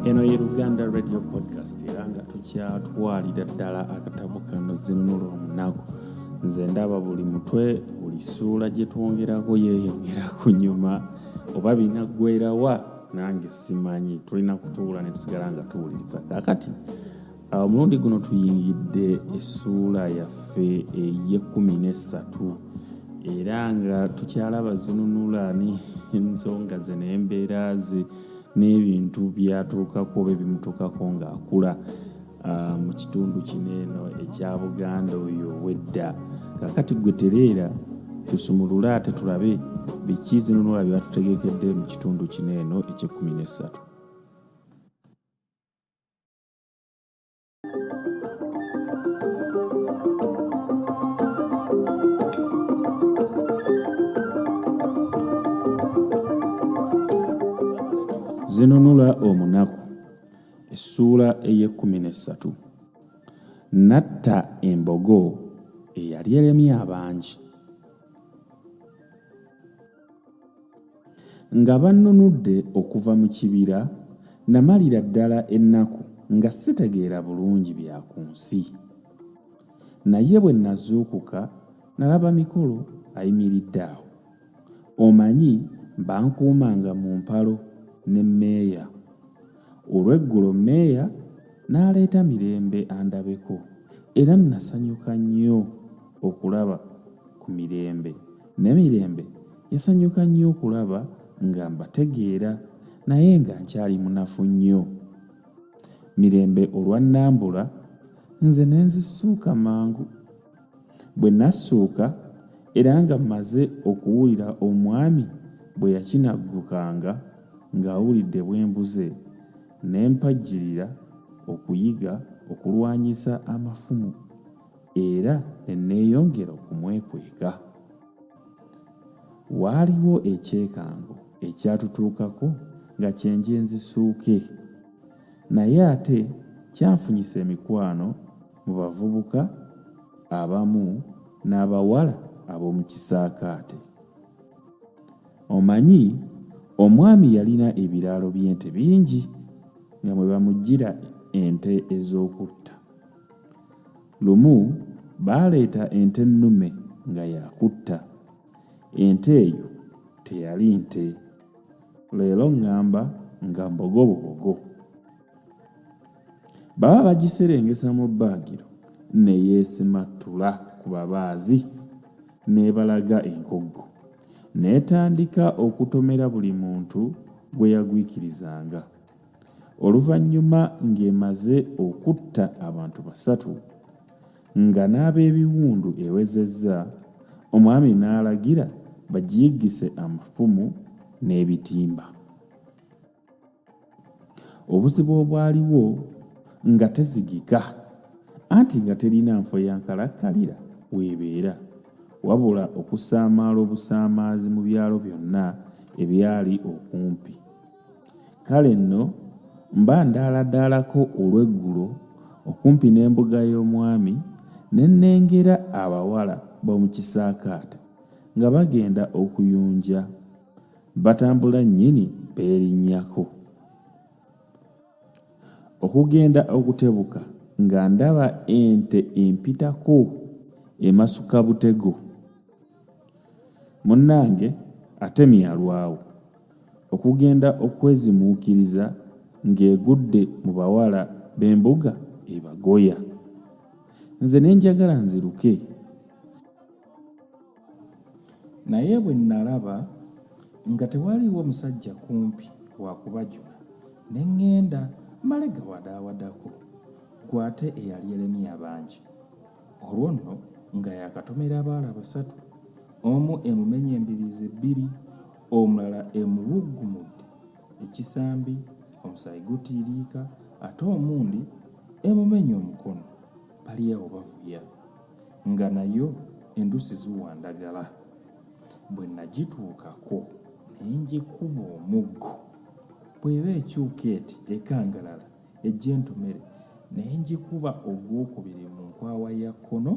eno ye luganda radio podcast era nga tukyatwalira ddala akatabo kano zinunula omunaku nze ndaba buli mutwe buli suula gye twongerako yeeyongera ku nyuma oba binaggwerawa nange simanyi tulina kutuula ne tusigala nga tuwuliriza kakati omulundi guno tuyingidde essuula yaffe ey'ekkumi n'essatu era nga tukyalaba zinunula n'ensonga ze n'embeera ze n'ebintu byatuukako be bimutuukako ng'akula ah, mu kitundu kino eno ekya buganda oyo wedda kakati gwe tereera tusumulule ate tulabe biki zinunula byatutegekedde mu kitundu kino eno eky'ekkumi n'essatu zinunula omunaku essuula ey'ekkumi n'essatu natta embogo eyali eremye abangi Nga bannunudde okuva mu kibira, namalira ddala ennaku nga sitegeera bulungi bya ku nsi. Naye bwe nazuukuka, nalaba Mikolo ayimiridde awo. Omanyi, bankuumanga mu mpalo ne Meeya. Olw'eggulo Meeya n'aleeta Mirembe andabeko, era nnasanyuka nnyo okulaba ku Mirembe. Ne Mirembe yasanyuka nnyo okulaba nga mbategeera naye nga nkyali munafu nnyo. Mirembe olwannambula nze ne nzisuuka mangu. Bwe nassuuka era nga mmaze okuwulira omwami bwe yakinaggukanga ng'awulidde bwe mbuze ne mpajjirira okuyiga okulwanyisa amafumu era ne nneeyongera okumwekweka. Waaliwo ekyekango ekyatutuukako nga kyenje nzisuuke, naye ate kyafunyisa emikwano mu bavubuka abamu n'abawala ab'omu kisaakaate. Omanyi, omwami yalina ebiraalo by'ente bingi nga mwe bamuggyira ente ez'okutta. Lumu baaleeta ente ennume nga yakutta. Ente eyo teyali nte. Leero ŋŋamba nga mbogobobogo. Baba bagiserengesa mu bbaagiro ne yeesimattula ku babaazi n'ebalaga enkoggo. N'etandika okutomera buli muntu gwe yagwikirizanga. oluvannyuma ng'emaze okutta abantu basatu nga n'ab'ebiwundu ewezezza omwami n'alagira bagiyiggise amafumu n'ebitimba obuzibu obwaliwo nga tezigika anti nga terina nfo ya nkalakkalira weebeera wabula okusaamaala obusaamaazi mu byalo byonna ebyali okumpi Kale nno mba ndaaladaalako olw'eggulo okumpi n'embuga y'omwami, ne nnengera abawala b'omu kisaakaate nga bagenda okuyunja, batambula nnyini beerinnyako. Okugenda okutebuka nga ndaba ente empitako emasuka butego. Munnange ate myalwawo. okugenda okwezimuukiriza ng'egudde mu bawala b'embuga ebagoya nze ne njagala nziruke naye bwe nnalaba nga tewaliiwo musajja kumpi wakubajula ne ŋŋenda male gawadaawadako gwe ate eyali eremye abangi olwo nno nga yakatomera abaala basatu omu emumenye embirizi ebbiri omulala emubuggumudde ekisambi omusaayi gutiiriika ate omundi emumenya omukono baliawo bavuya nga nayo endusi ziwa ndagala bwe nagituukako naye ngikuba omuggo bweba ekyuka eti ekangalala ejja entomere naye ngikuba ogwokubiri mu nkwawa ya kkono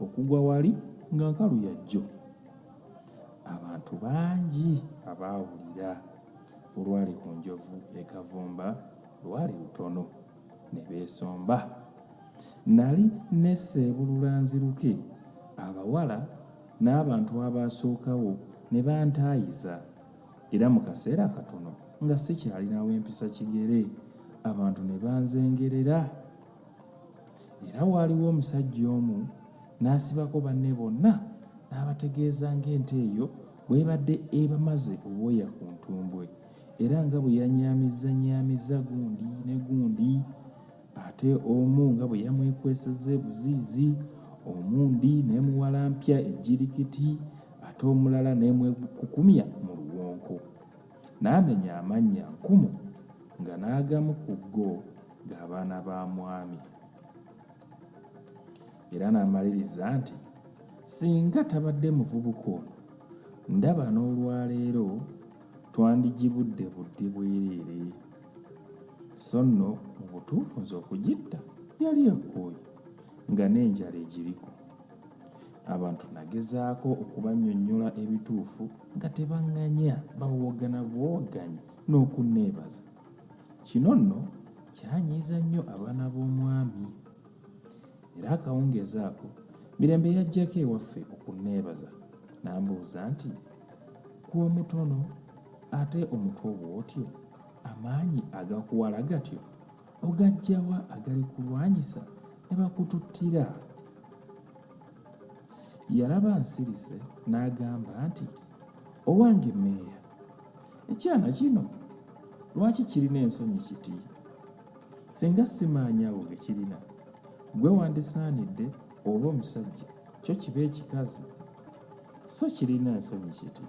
okugwa wali nga nkalu yajjo abantu bangi abaawulira olwali ku njovu e Kavumba lwali lutono ne beesomba. Nali neseebulula nziruke abawala n'abantu abaasookawo ne bantaayiza era mu kaseera katono nga sikyalinawo empisa kigere abantu ne banzengerera Era waaliwo omusajja omu n'asibako banne bonna n'abategeeza ng'ente eyo bw'ebadde ebamaze obwoya ku ntumbwe era nga bwe yanyaamizzanyaamizza gundi ne gundi ate omu nga bwe yamwekwesezza ebuziizi omundi n'emuwalampya ejjirikiti ate omulala n'emwekukumya mu luwonko N'amenya amannya nkumu nga n'agamu ku go ga baana ba mwami. Era n'amaliriza nti, Singa tabadde muvubuka ono, ndaba n'olwaleero twandigibudde budde bwereere. So nno mu butuufu nze okugitta yali ekooye nga n'enjala egiriko. Abantu nagezaako okubannyonnyola ebituufu nga tebanganya bawoogana buwoganyi n'okunneebaza. Kino nno kyanyiiza nnyo abaana b'omwami. Era akawungeezi ako Mirembe yajjako ewaffe okunneebaza n'ambuuza nti gwe omutono ate omutwe obwotyo amaanyi agakuwala gatyo ogajjawa agalikulwanyisa ne bakututtira yalaba nsirise n'agamba nti owange meeya ekyana kino lwaki kirina ensonyi kiti singa simaanyawo ge kirina gwe wandisaanidde oba omusajja kyo kiba ekikazi so kirina ensonyi kiti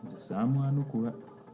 nze saamwanukula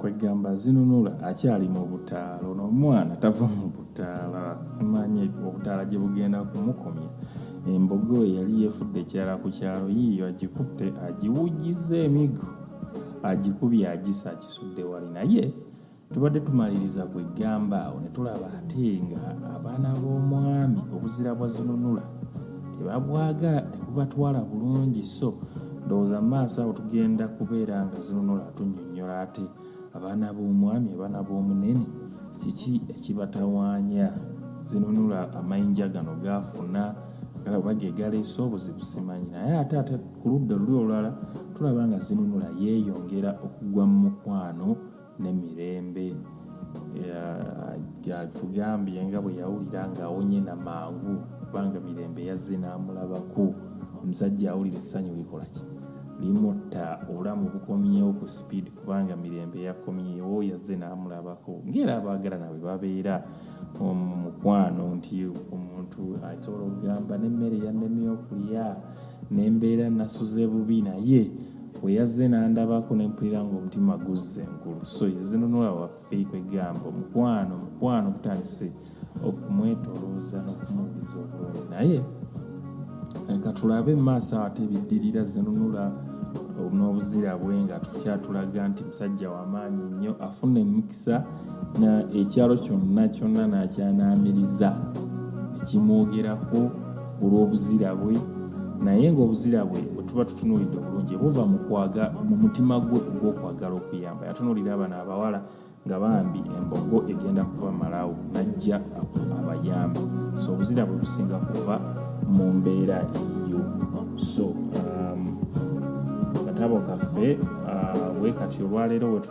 kwegamba zinunula akyali mu butaala ono omwana tava mu butaala simanyi obutaala gye bugenda kumukomya embogo we yali yefudde ekyala ku kyalo yiiyo agikutte agiwujiza emigo agikubye agisa akisudde wali naye tubadde tumaliriza kwegamba awo netulaba ate nga abaana b'omwami obuzira bwa zinunula tebabwagala tebubatwala bulungi so ndowooza maaso awo tugenda kubeera nga zinunula tunyonyola ate abaana b'omwami abaana b'omunene kiki ekibatawaanya zinunula amayinja gano gaafuna oba gegaleese obuzibu simanyi naye ate ate ku ludda luli olulala tulaba nga zinunula yeeyongera okugwa mu mukwano ne mirembe atugambye nga bwe yawulira ng'awonye na mangu kubanga mirembe yazze n'amulabako omusajja awulira essanyu likola ki limutta obulamu bukomyewo ku speed kubanga mirembe yakomyewo yazze n'amulabako ngaera abaagala nawe babeera omukwano nti omuntu asobola okugamba n'emmere yanemye okulya ne mbeera nasuze bubi naye bwe yazze n'andabako ne mpulira ng'omutima guzze enkulu so yezinunula waffe kwegamba omukwano omukwano gutandise okumwetolooza n'okumuwuliza obulungi naye leka tulabe mu maaso ate biddirira zinunula n'obuzira bwe nga tukyatulaga nti musajja wamaanyi nnyo afuna emikisa na ekyalo kyonna kyonna n'akyanaamiriza ekimwogerako olw'obuzira bwe naye ng'obuzira bwe bwe tuba tutunuulidde obulungi buva mu mutima gwe ogw'okwagala okuyamba yatunuulira abana abawala nga bambi embogo egenda kuba malawo najja abayamba so obuzira bwe businga kuva mu mbeera eyo so um, katabo kaffe uh, wekati olwaleero wetu